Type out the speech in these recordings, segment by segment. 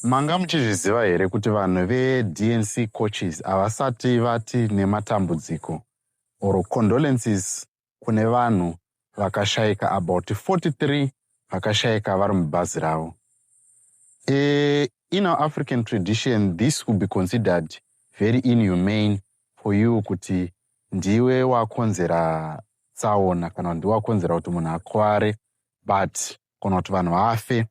Manga muchizviziva here kuti vanhu veDNC coaches havasati vati nematambudziko or condolences kune vanhu vakashaika about 43 vakashaika vari mubhazi ravo. E, in our African tradition this would be considered very inhumane for you kuti ndiwe wakonzera tsaona kana ndiwe wakonzera kuti munhu akware but kana kuti vanhu vafe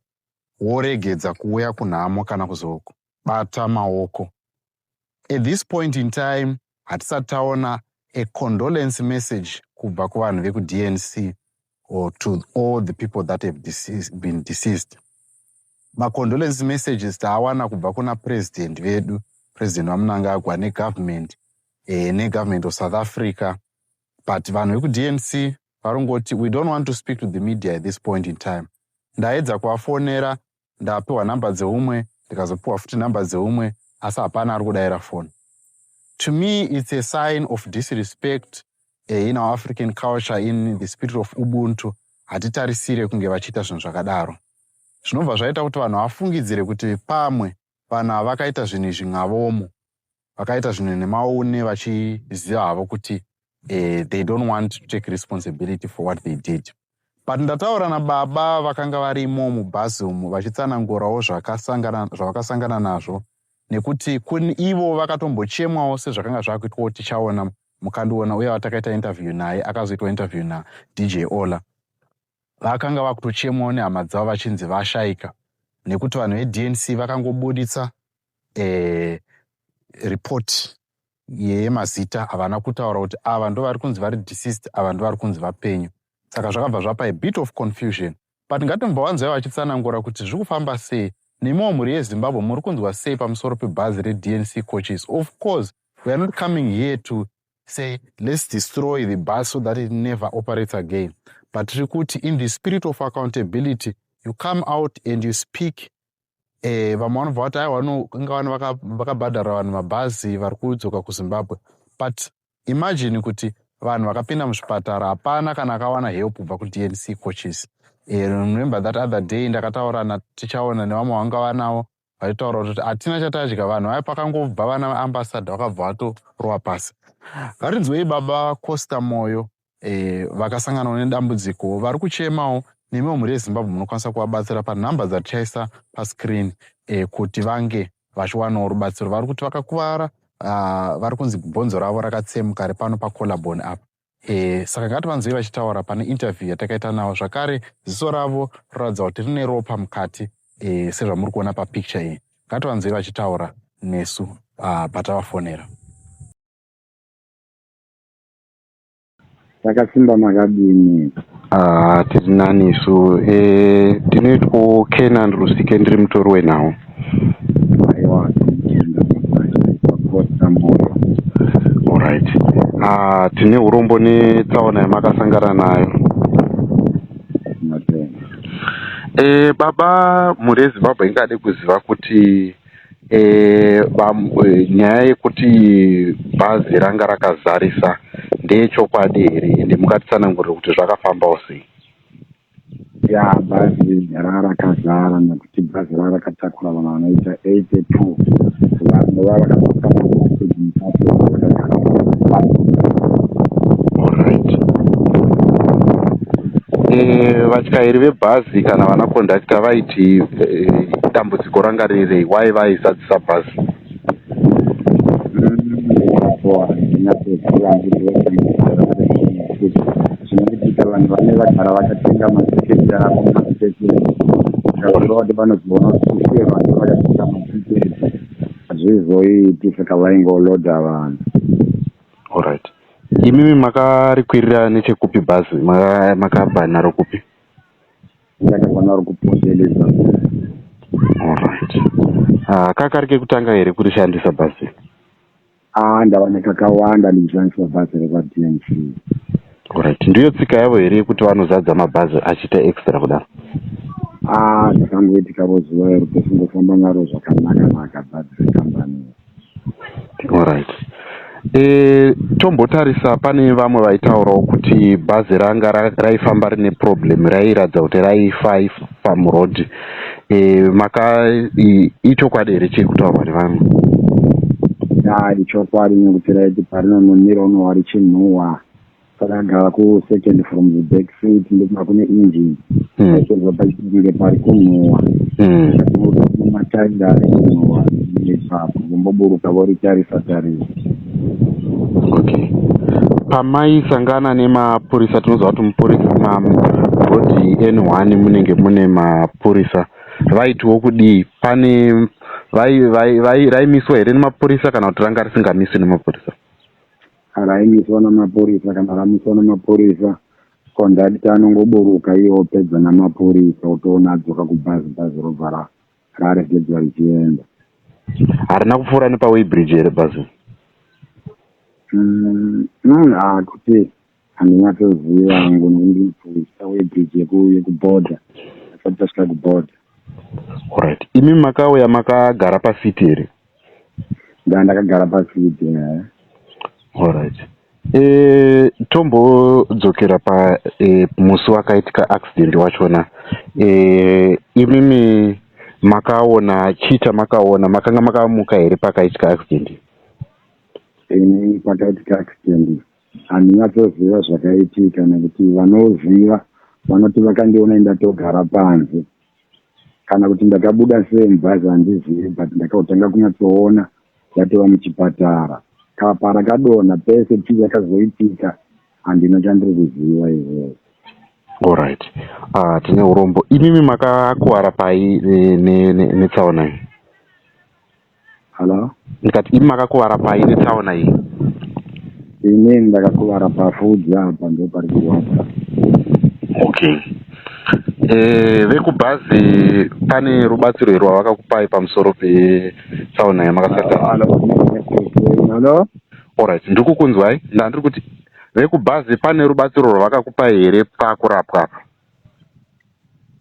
woregedza kuuya kunhamo kana kuzobata maoko at this point in time hatisati taona a condolence message kubva kuvanhu vekudnc or to all the people that have deceased, been deceased macondolence messages taawana kubva kuna president vedu president vamunangagwa negovernment eh, negovernment of south africa but vanhu vekudnc varongoti we don't want to speak to the media at this point in time ndaedza kuvafonera ndapiwa number dzeumwe ndikazopiwa futi number dzeumwe asi hapana ari kudaira foni to me it's a sign of disrespect eh, in our african culture in the spirit of ubuntu hatitarisire kunge vachiita zvinhu zvakadaro zvinobva zvaita kuti vanhu vafungidzire kuti pamwe vanhu havakaita zvinhu izvi ngavomo vakaita zvinhu nemaune vachiziva havo kuti eh, they don't want to take responsibility for what they did but ndataura nababa vakanga varimo mubhazi umu vachitsanangurawo zvavakasangana nazvo nekuti kuni ivo vakatombochemwawo sezvakanga zvakuitwawo tichaona mukandiona uye vatakaita interview naye akazoitwa interview nadj ola vakanga vakutochemwawo nehama dzavo vachinzi vashaika nekuti vanhu vednc vakangobuditsa eh, report yemazita havana kutaura kuti ava ndovari kunzi vari deceased ava ndovari kunzi vapenyu saka zvakabva zvapa a bit of confusion but ngatombowanzwai vachitsanangura kuti zviri kufamba sei nemiwo mhuri yezimbabwe muri kunzwa sei pamusoro pebhazi rednc coaches of course weare not coming here to say let's destroy the bus so that it never operates again but tiri kuti in the spirit of accountability you come out and you speak eh, vamwe vanobva vati aiwa inga vanhu vakabhadhara vanhu mabhazi vari kudzoka kuzimbabwe but imagine kuti vanhu vakapinda muzvipatara hapana kana akawana help kubva kudnc coaches eh, remember that other day ndakataura natichaona nevamwe vanga vanawo vaitaura kuti hatina chatadya vanhu vaya pakangobva vana vaambasada vakabva vatorova pasi varinzwei baba costa moyo e, vakasanganawo nedambudziko vari kuchemawo nemiwo mhuri yezimbabwe munokwanisa kuvabatsira panhamba dzatichaisa pascreen e, kuti vange vachiwanawo rubatsiro vari kuti vakakuvara uh, vari kunzi bhonzo ravo rakatsemuka repano pacolabon apa E, saka ngativanzwei vachitaura pane interview yatakaita navo zvakare ziso ravo roratidza kuti rine ropa mukati e, sezvamuri kuona papicture iyi ngativanzwei vachitaura nesu uh, patavafonera takasimba makadini Ah, tiri nani isu eh, tinoitwawo Canaan Rusike ndiri mutori wenhau. Aiwa tinoenda kumuraini pakupotsa mbuyo. Alright. Ah, tine urombo netsaona yamakasangana nayo. Matenda. Eh, baba mhuri yeZimbabwe ingade kuziva kuti Eh, vam- eh, nyaya yekuti bhazi ranga rakazarisa ndeyechokwadi here ende mungatitsanangurira kuti zvakafambawo sei ya bhazi rarakazara nekuti bhazi rarakatakura vanhu vanoita 82 vanhu Alright. Eh, vatyairi vebhazi kana vana kondakita vaiti eh, dambudziko dambudziko ranga riri why vaizadzisa bus zvinoitika vanhu vane vagara vakatenga matiketi avo matiketi zvakureva kuti vanozoona kuti sei vanhu vakatenga matiketi hazvizoiti saka vaingoloda vanhu allright imimi makarikwirira nechekupi bhazi makabva naro kupi Ndakavana uri kupoteleza. Alright. Ah, kakari kekutanga here kurishandisa bhazi? Ah, ndava nekakawanda ndichishandisa bhazi rekwaDNC. Alright. Ndiyo tsika yavo here yekuti vanozadza mabhazi achiita extra kudaro? Ah, zvakangoitika vo zuva iro tosingofamba naro zvakanaka naka bhazi rekambani. Alright eh, tombotarisa pane vamwe vaitaurawo kuti bhazi ranga raifamba rine problem rairatidza kuti raifa ifa pamuroad eh, maka ichokwadi here chiri kutaurwa nevamwe ya ichokwadi nekuti raiti parinononira unowa richinhuwa Pakagara ku second from the back seat ndikuma kune engine. Hmm. Aisonzwa pachinge pari kunhuwa. Hmm. Ndakumuka kune matairi ari kunhuwa ipapo. Vomboburuka voritarisa tarisa. Okay. Pamaisangana nemapurisa tinoziva kuti mupurisa mabhodhi N1 munenge mune mapurisa. Vaitiwo kudii? Pane raimiswa here nemapurisa kana kuti ranga risingamiswi nemapurisa? Kana aimiswa namapurisa kana akamiswa namapurisa conductor anongoburuka iye opedza namapurisa otoona adzoka kubhazi bhazi robva ra raregedzwa richienda harina kupfuura nepaweybridge here bhazi mm, mm, hakuti handinyatsoziva hangu nondipfuisa weybridge yekuborder asati tasvika kuborder orit imi makauya makagara pasiti here ndaa ndakagara pasi kuti allright eh, tombodzokera pa eh, musi wakaitika accident wachona eh, imimi makaona chita makaona makanga makamuka here pakaitika accident ini pakaitika accident handina toziva zvakaitika nekuti vanoziva vanoti vakandiona indatogara panze kana kuti ndakabuda sei mubhazi handizivi but ndakatanga kunyatsoona yatova muchipatara kapa rakadonha pese chii chakazoitika handina chandiri kuziva izvozvo allright ah, tine urombo imimi makakuvara pai netsaona iyi Hello? Ndikati imi makakuvara pai netsaona iyi? Ini ndakakuvara pafudzi apa ndo pari kurwadza. Okay. Eh, vekubhazi pane rubatsiro here rwavakakupai pamusoro petsaona yamakasata? Hello? Alright, ndiri kukunzwai. Ndandiri kuti vekubhazi pane rubatsiro rwavakakupai here pakurapwa apa?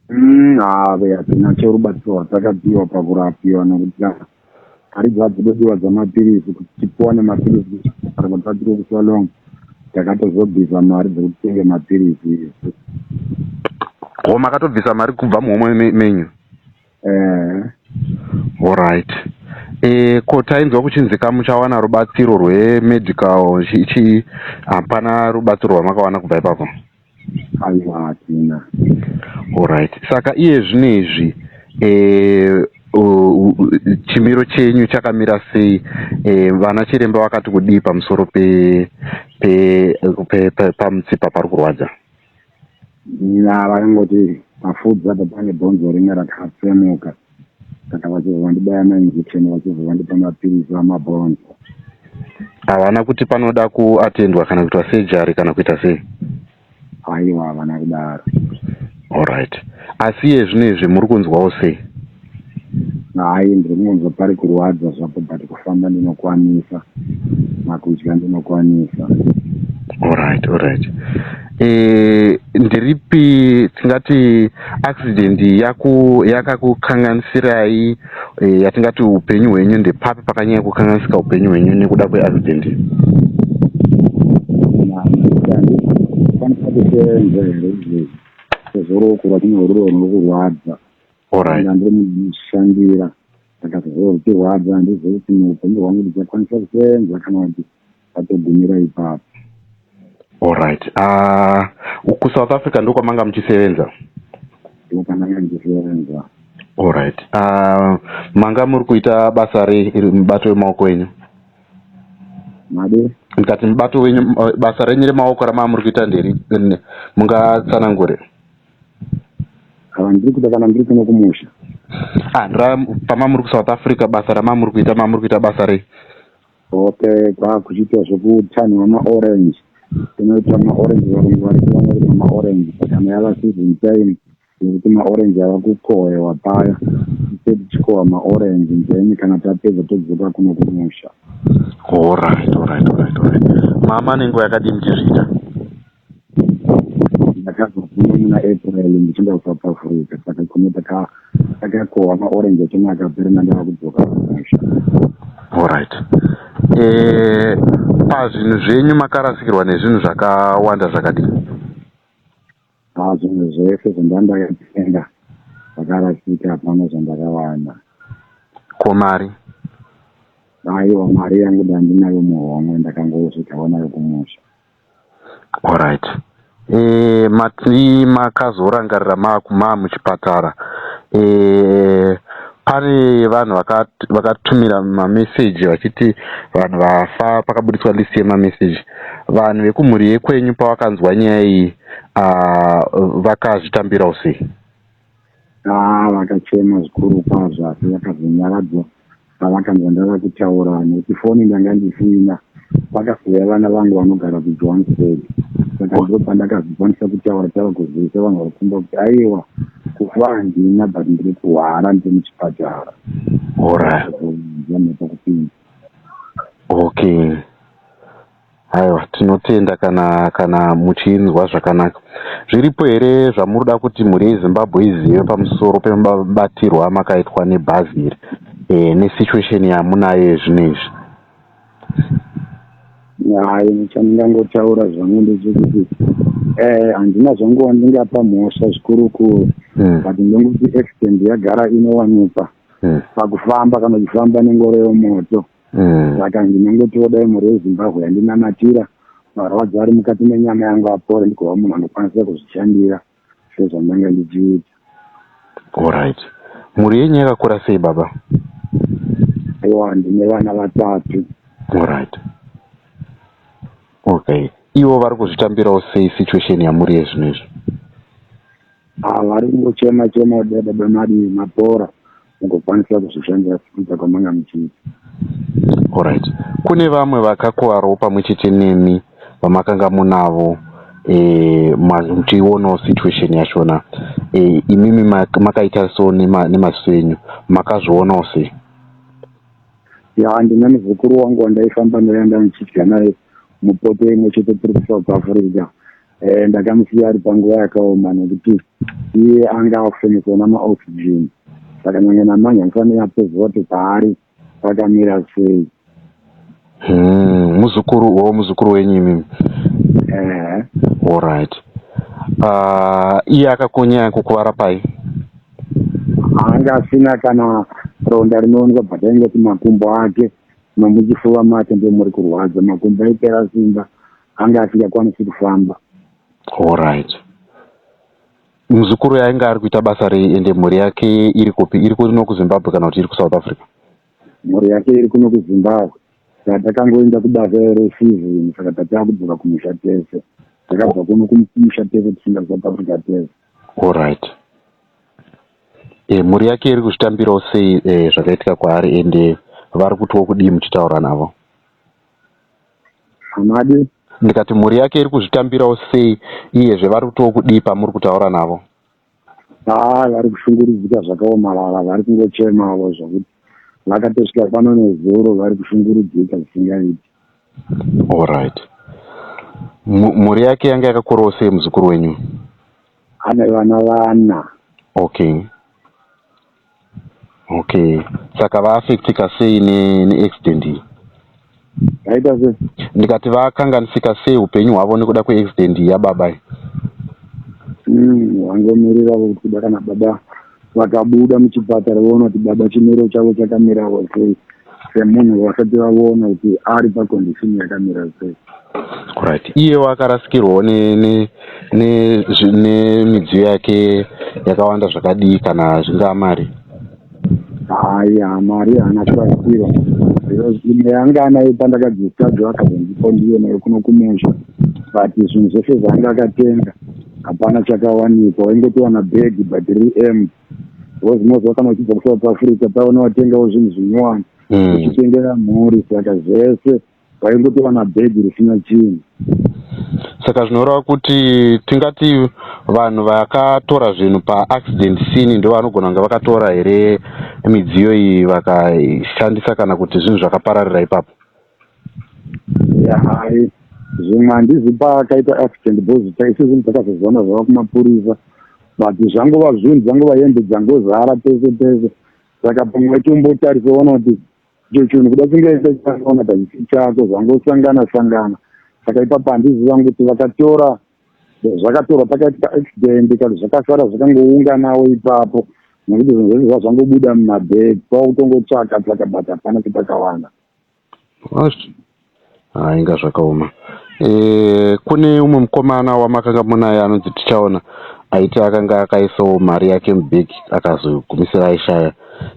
Mm, ave hadzina chorubatsiro rwatakapiwa pakurapiwa nokuti hari dzadzidodiwa dzamapiritsi kuti tipiwane mapiritsi kuchipatara kusa long takatozobvisa mari dzekuti tenge mapiritsi isu o makatobvisa mari kubva muhomwe menyu eh allright e eh, ko tainzwa kuchinzi ka muchawana rubatsiro rwemedical chii hapana rubatsiro rwamakawana kubva ipapo Aiwa hatina. Horaiti saka iye zvino izvi chimiro chenyu chakamira sei vana chiremba vakati kudii pamusoro pamutsipa pari kurwadza vakangoti pafudza apa pane bhonzo ringe rakatsemuka Saka vachibva vandibaya mainjection vachibva vandipa mapiritsi amabhonzo. Havana kuti panoda kuatendwa kana kuitwa sejari kana kuita sei? Haiwa, havana kudaro. Alright. Asi iye zvino izvi muri kunzwawo sei? Hai, ndiri kungonzwa pari kurwadza zvapo but kufamba ndinokwanisa, makudya ndinokwanisa. Alright, alright. eh, ndiripi tingati accident yakakukanganisirai eh, yatingati upenyu hwenyu ndepapi pakanyanya kukanganisika upenyu hwenyu nekuda kweaccident zvorokura kune uriro rinokurwadza ndandiri munoshandira saka zvorwutirwadza handizivi kuti muupenyu hwangu ndichakwanisa kusenza kana kuti atogumira ipapo Alright. Ah, uh, kuSouth Africa ndiko kwamanga muchisevenza? Ndiko kwamanga muchisevenza. Alright. Ah, uh, manga muri kuita basa rei iri mubato wemaoko enyu? Made. Ndikati mubato wenyu eh, basa renyu remaoko ramava muri kuita nderi mungatsanangure? Kana ndiri kuita kana ndiri kuno kumusha. Ah, ndira pama muri kuSouth Africa basa ramava muri kuita mava muri kuita basa rei? Hope kwakuchiita zvekutanhwa maorange kunoita maorange varungu vari kuona kuti maorange kana yava season time yekuti maorange ava kukohwewa paya tise tichikohwa maorange then kana tapedza todzoka kuno kumusha. Alright, alright, alright, alright. Mama nenguva yakadii muchizviita? ndakazofuma muna april ndichinda kusouth africa saka kuno takakohwa maorange achona akapera mandava kudzoka kumusha allright eh, pazvinhu zvenyu makarasikirwa nezvinhu zvakawanda zvakadii a zvinhu zvese zvandandakatenga zvakarasika hapana zvandakawana ko mari aiwa mari yangu dandinayo muhomwe ndakangosvikawo nayo kumusha Alright mati makazorangarira mamuchipatara pane vanhu vakatumira mameseji vachiti vanhu vafa pakabuditswa list yemameseji vanhu vekumhuri yekwenyu pavakanzwa nyaya iyi vakazvitambirawo sei? Haa vakachema zvikuru kwazvo asi vakazonyaradzwa pavakanzwa ndava kutaura nekuti foni ndanga ndisina. Vakazouya vana vangu vanogara kuJohannesburg saka ndipo pandakazokwanisa kutaura tava kuzivisa vanhu vakumba kuti aiwa kufa handina but ndiri kurwara ndiri muchipatara. Alright. Vakazonzwa mhepo kupinda. Okay. Aiwa tinotenda kana kana muchinzwa zvakanaka. Zviripo here zvamuruda kuti mhuri yeZimbabwe izive pamusoro pemabatirwo amakaitwa nebazi iri eh, nesituation yamunayo yezvino izvi? Hayi chandingangotaura zvangu ndechekuti eh, handina zvangu wandingapa mhosva zvikurukuru mm. but ndongoti accident yagara inowanikwa mm. pakufamba kana uchifamba nengoro yomoto mm. saka mm. ndinongotiwo dai mhuri yezimbabwe yandinamatira marwadzo ari mukati menyama yangu apore ndikova munhu anokwanisa kuzvishandira sezvandanga ndichiita orit mhuri yenyu yakakura sei baba aiwa ndine vana vatatu orit okay ivo vari kuzvitambirawo sei situation yamuri yezvino izvi ah, vari kungochema chema kudai baba madi mapora ugokwanisa kuzvishandira sekudza kwamanga muchiita. Alright. Kune vamwe vakakuvarwo pamwe chete nemi vamakanga munavo eh, muchionawo situation yachona eh, imimi makaita so nemaziso enyu makazvionawo sei? Ya ndine muzukuru wangu wandaifamba naye ndanichidya naye mupoto imwe chete tiri kuSouth Africa Eh, ndakamusiya ari panguva yakaoma nekuti iye anga akufeneswa namaoxygen saka nyange namanya ndifanira kuziva kuti paari pakamira sei hmm, muzukuru wavo muzukuru wenyu imimi eh. allright ah, iye akakunyaya kukuvara pai anga asina kana ronda rinoonekwa but ainge kuti makumbo ake nomuchifuva make ndomuri kurwadza makumbo aipera simba anga asingakwanisi kufamba allright muzukuru yainge ari kuita basa rei ende mhuri yake iri kupi iri kuno kuzimbabwe kana kuti iri kusouth africa mhuri yake iri kuno kuzimbabwe saka takangoenda kubasa resizini saka tatava kudzoka kumusha tese takabva kuno kumusha tese tichienda kusouth africa tese allright e, mhuri yake iri kuzvitambirawo sei e, zvakaitika kwaari ende vari kutiwo kudii muchitaura navo hamadi ndikati mhuri yake iri kuzvitambirawo sei iyezve vari kutiwo kudii pamuri kutaura navo haa vari kushungurudzika zvakaomarara vari kungochemavo zvokuti vakatosvika pano nezuro vari kushungurudzika zvisingaiti allright mhuri yake yanga yakakurawo sei muzukuru wenyu ane vana vana okay Okay saka va affectika sei ne, ne accident iyi? Vaita sei? Ndikati vakanganisika sei upenyu hwavo nekuda kwe accident iyi yababa iyi? Vangomirira mm, kuda kana baba vakabuda muchipatara voona kuti baba chimiro chavo chakamirawo sei. semunhu vasati vavona kuti ari pacondishini yakamira sei right iyewo akarasikirwawo nemidziyo yake yakawanda zvakadii kana zvingaa mari hayi hamari haana kurasikirwa imwe yanga anayo pandakadzisadzwa akazondipo ndiyo nayo kuno kumusha but zvinhu zvese zvaanga akatenga hapana chakawanikwa waingotiwana bhegi but riri empty because most vakana vachibva kusouth africa pava novatengawo zvinhu zvinyowani hmm. uchitengera mhuri saka zvese vaingotova nabhegi risina chinhu saka zvinoreva kuti tingati vanhu vakatora zvinhu paaccident scene ndo vanogona kunge vakatora here midziyo iyi vakashandisa kana kuti zvinhu zvakapararira ipapo hai zvimwe handizi paakaita accident because taise zvinhu takazozivana zvava kumapurisa but zvangova zvinhu dzangova hembe dzangozara pese pese saka pamwe waitombotarisa ona kuti icho chinhu kuda chingaita chakaona pachisi chako zvangosangana sangana saka ipapo handiziva kuti vakatora zvakatorwa pakaitika accident kati zvakasara zvakangounganawo ipapo nekuti zvinhu zvese zvazvangobuda mumabhegi kwakutongotsvaka tsvaka but hapana kuti pakawana Haa inga zvakaoma eh, kune umwe mukomana wamakanga munaye anonzi tichaona aiti akanga akaisawo mari yake mubhegi akazogumisira aishaya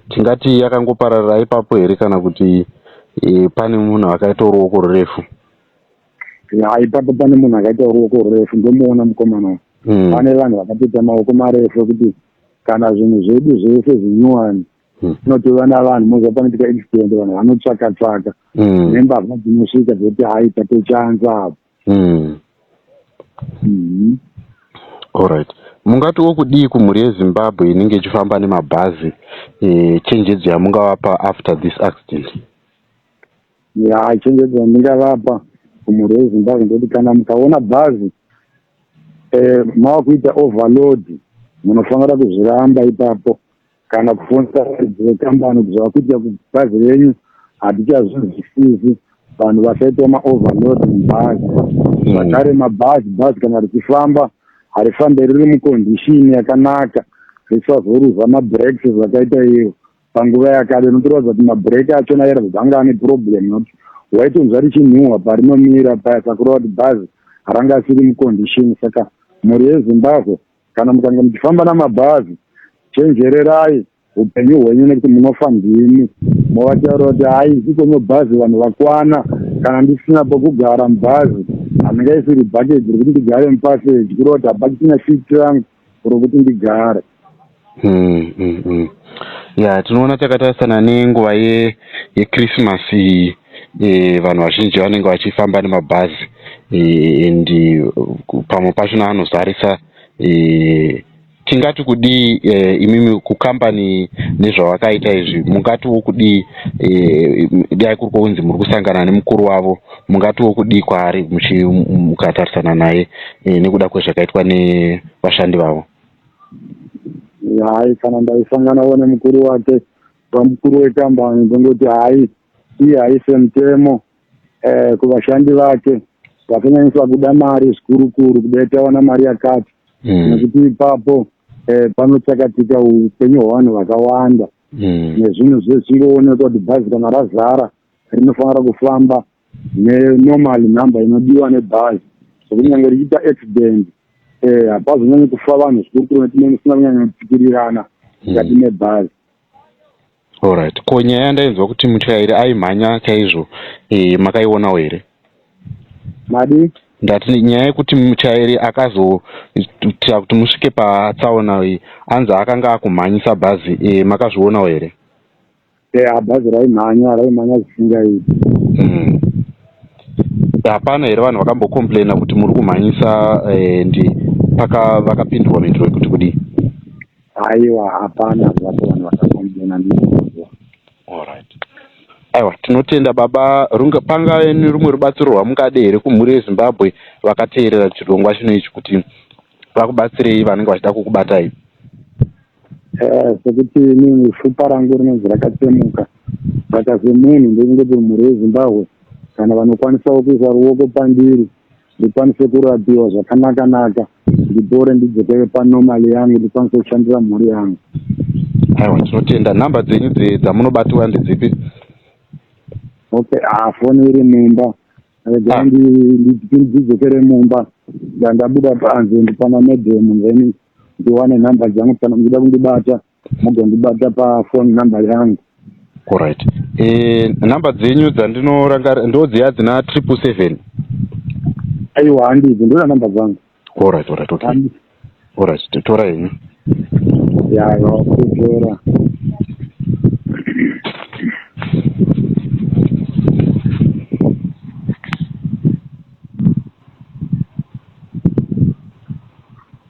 tingati akangopararira ipapo here kana kuti eh, pane munhu akaitawo ruoko rurefu ya ipapo pane munhu akaitawo ruoko rurefu ndomuona mukomana hmm. pane vanhu vakatoita maoko marefu ekuti kana zvinhu zvedu zvese zvinyuwani Hmm. Unotora navanhu moza panoitika accident vanhu vanotsvaka tsvaka hmm. nembavha dzinosvika dzoti hai tatochanza apo. Hmm. Alright. Mungati wokudii kumhuri yeZimbabwe inenge ichifamba nemabhazi eh, chenjedzo yamungavapa after this accident? Ya chenjedzo yandingavapa kumhuri yeZimbabwe ndoti kana mukaona bhazi eh, mava kuita overload munofanira kuzviramba ipapo kana kufonsa varidzi vekambani kuti zvakuitika kubhazi renyu hatichazvinzwisisi vanhu vasaitwa maoverload mubhazi hmm. zvakare mabhazi bhazi kana richifamba harifambe riri mucondition yakanaka risazoruza mabreaks zvakaita iyo panguva yakada inotoratidza kuti mabreak achona yaratidza anga ane problem not waitonzwa richinhuhwa parinomira paya sakureva kuti bhazi haranga asiri mucondition saka mhuri yezimbabwe Kana mukange muchifamba namabhazi, chenjererai upenyu hwenyu nekuti munofa ndimi. Movataurira kuti haisi kwenye bhazi vanhu vakwana, kana ndisina pokugara mubhazi handingaisiri bucket rekuti ndigare mupassage kureva kuti hapachisina seat rangu rokuti ndigare. Mm, mm, mm. Yeah, tinoona takatarisana nenguva ye, yeChristmas iyi. e, vanhu vazhinji vanenge vachifamba nemabhazi e, and e, pamwe pacho naanozarisa e, tingati kudii e, imimi kukambani nezvavakaita izvi mungatiwo kudii e, dai kuri kwokunzi muri kusangana nemukuru wavo mungatiwo kudii kwaari mukatarisana naye e, nekuda kwezvakaitwa nevashandi vavo hai kana ndaisanganawo nemukuru wake pamukuru wekambani ndongoti hai iye haise mutemo eh, kuvashandi vake vakanyanyisa kuda mari zvikuru kuru kudai tawana mari yakati mm. nekuti ipapo eh, panotsakatika upenyu hwevanhu vakawanda mm. nezvinhu zvechingoonekwa kuti bhazi kana razara rinofanira kufamba nenormal number inodiwa nebhazi sokunyange richiita accident eh, hapazonyanyi kufa vanhu zvikuru kuru netinenge tisina kunyanya kupikirirana mukati mm. mebhazi Alright ko nyaya yandainzwa kuti mutyairi aimhanya chaizvo e, makaionawo here? Madii? Ndati nyaya yekuti mutyairi akazoita kuti musvike patsaona iyi anzi akanga akumhanyisa bhazi e, makazvionawo here? Eya bhazi raimhanya raimhanya zvisingaiti. Mm. Hapana here vanhu vakambocomplaina kuti muri kumhanyisa e, ndi paka vakapindurwa mhinduro yekuti kudii? Aiwa hapana zvapo vanhu vakakombiona ndinokuziva. Alright. Aiwa tinotenda baba runga pangave nerumwe rubatsiro rwamungade here kumhuri yezimbabwe vakateerera chirongwa chino ichi kuti vakubatsirei vanenge vachida kukubatai Eh, sekuti inini fupa rangu rinonzi rakatsemuka saka semunhu ndekungoti mhuri yezimbabwe kana vanokwanisawo kuisa ruoko pandiri ndikwanise kurapiwa zvakanaka naka ndipore ndidzokere panormal yangu ndikwanise kushandira mhuri yangu aiwa tinotenda number dzenyu dzamunobatiwa ndedzipi okay ah foni iri mumba regai ah. ndidzokere mumba ndandabuda panze ndipana madam then ndiwane number dzangu kana muchida kundibata mugondibata pafoni number yangu orit e, eh, number dzenyu dzandinorangara ndodziya dzina triple seven aiwa handizi ndoda number dzangu orit orit ok orit totora henyu yaiwa kutora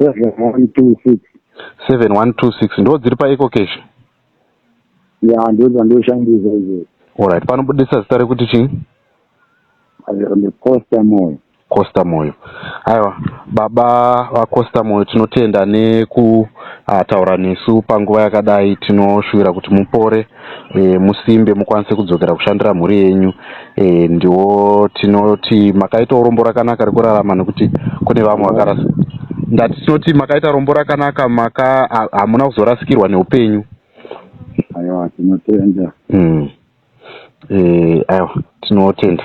7126 7126 ndo dziri paeco cash ya ndo dzandoshandisa izvozvo olright panobudisa zita rekuti chii costa moyo costa moyo aiwa baba vacosta moyo tinotenda nekutaura ah, nesu panguva yakadai tinoshuvira kuti mupore e, musimbe mukwanise kudzokera kushandira mhuri yenyu e, ndiwo tinoti makaita urombo rakanaka rekurarama nekuti kune vamwe vakarasa ndati tinoti makaita rombo rakanaka maka hamuna kuzorasikirwa neupenyu aiwa tinotenda mm. e, aiwa tinotenda